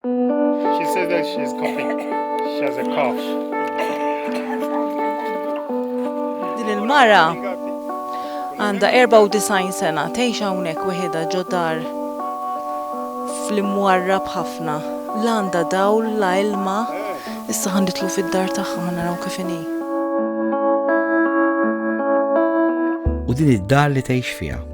She said that she's coughing. She has a cough. Din il-mara għandha 94 sena tgħix hawnhekk weħidha ġodar fl-imwarrab ħafna. La għandha dawl, la ilma. Issa ħanditlu fid-dar tagħha ħanaraw kif inhi. U din id-dar li tgħix fiha.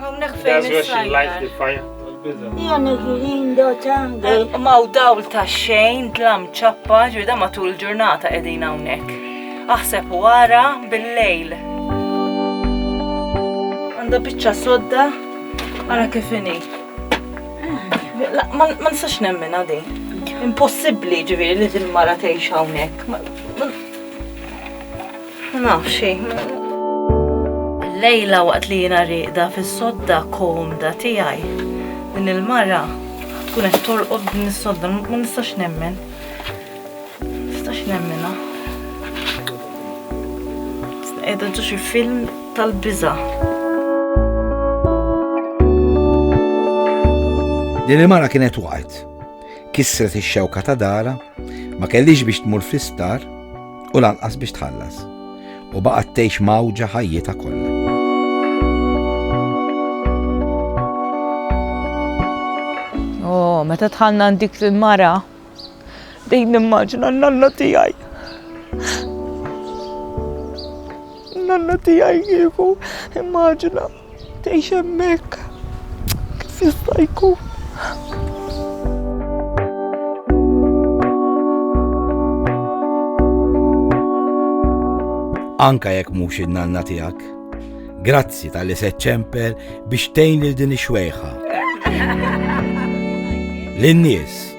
Hawnhekk fejn is-sajjar. Jana ġilin do ċanga. Maw dawl ta' xejn, dlam ċappa, ġvida matul ġurnata edin hawnhekk. Aħseb u għara bil-lejl. Għanda bicċa sodda, għara kifini. Ma nistax nemmen għadi. Impossibli ġiviri li dil-mara teħx hawnhekk. Ma nafx Lejla waqt li jiena rieqda fis-sodda komda tiegħi. Din il-mara tkun qed torqod din is-sodda, ma nistax nemmen. Nistax nemmena. Qiegħda ġo xi film tal-biża'. Din il-mara kienet waqgħet kissret ix-xewka ta' darha, ma kellhiex biex tmur fl-isptar u lanqas biex tħallas, u baqgħet tgħix mgħawġa ħajjitha kollha. Oh, meta tħallna dik il-mara, dejjem nimmaġina n-nanna tiegħi. Nanna tiegħi kieku immaġina. Tgħix hemmhekk kif jista' jkun. Anka jekk mhux in-nanna tiegħek. Grazzi tal-li se ċemper biex tgħin lil din ix-xwejħa. Lin-nies